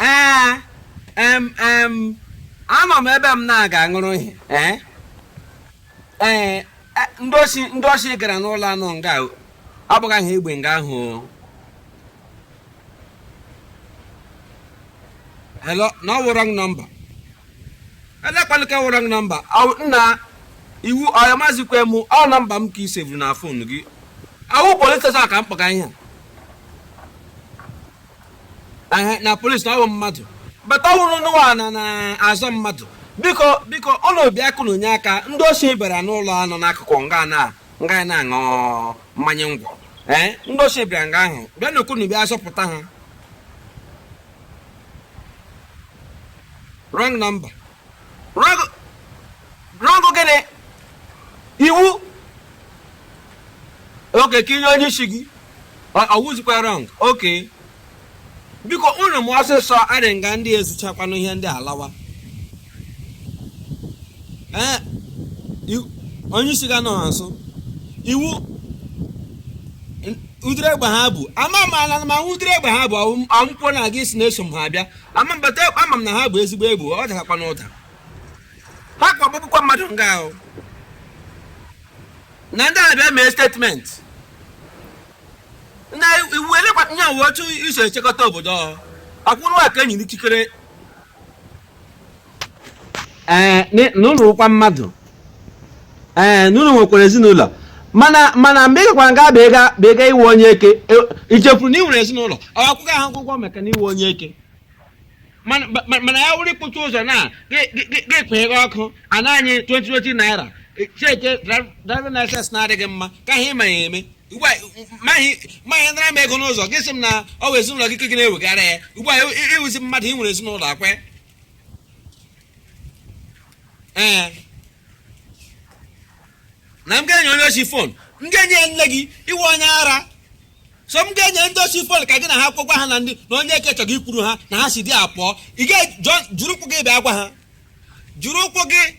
ee em em anọ m ebe m na-aga ṅụrụ ihe ee ee e- ndị osi ndị osi gara n'ụlọ anọ nga o. ọ bụghị aha egbe nga ahụ o. hello na ọ wụ wrong number olee kwanụ nke wụ wrong number Ọ- nna ị wụ onye ị mazikwa m ọ nọmba m ka i sevuru na fon gị ọ wụ polis steshọn ka m kpọga ihe a na polis na ọ wụ mmadụ but ọ wụrụ na unu na-azọ mmadụ biko biko unu bịakwanụ nye aka ndị osi bịara n'ụlọ anọ n'akụkụ nga na nga na-aṅụ mmanya ngwọ ee ndị osi bịara nga ahụ bịanụ ka unu bịa zọpụta ha wrong number rọngụ gịnị ị wụ oke ka i nye onye isi gị ọ wụzikwa rọng oke biko unu mee ọsịsọ adị nga ndị ezuchakwanụ ihe ndị alawa ee onye isi gị anọgha nso ị wụ ụdịrị egbe ha bu ama m ala ma ụdịrị egbe ha bu ọmụkwụ na gị sị na eso m ha abịa ama m but ama m na ha bu ezigbo egbe ọ dakakwa n'ụda ha gbagbukwa mmadụ nga ahụ na ndị abịa mee statement na ị wụ elekwa ihe a wụ otu i so echekọta obodo ọkwụrụ aka enyi n'ikikere ee n- na unu wụkwa mmadụ ee na unu nwekwara ezinụlọ mana mana mgbe ị gakwara nga bụ ịga bụ ịga ịwụ onye eke e- i chefuru na ị nwere ezinụlọ ọ akwụkwọ ahụ akwụkwọ maka na ị wụ onye eke mana ma- mana ya wụrụ ikpuchi ụzọ na gị- gị- gị- gị kwenyere ọkụ ana anyị 20 20 naira cheke driving license na-adị gị mma ka ihe ị ma ya eme ugbu a ma gị ma gị nara m ego n'ụzọ gị sị m na ọ wụ ezinụlọ gị ka gị na-ewegara ya ugbu a ị wụzi mmadụ ị nwere ezinụlọ akwe ee na m ga-enye onye osi fon m ga-enye ya nne gị ị wụ onye ara so m ga-enye ndị osi fon ka gị na ha kwuo gwa ha na ndị na onye eke chọrọ ikwuru ha na ha si dị apụọ ị ga-ejiri ụkwụ gị bịa gwa ha jiri ụkwụ gị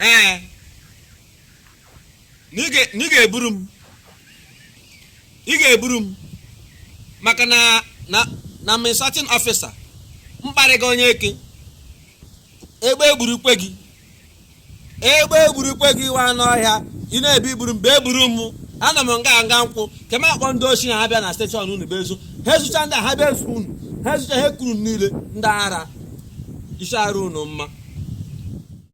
ee na ị ga- na ị ga-eburu m ị ga-eburu m maka na na na m insulting officer m kparịga onye eke egbe egburukwe gị egbe egburukwe gị wa anụ ọhịa ị na-abịa iburu m bịa buru m anọ m nga nga nkwụ ka m akpọ ndị osi ha bịa na steshọn unu bịa zuo ha ezucha ndị a, ha bịa ezu unu ha ezucha ha ekuru m niile ndị ara isi adịghị unu mma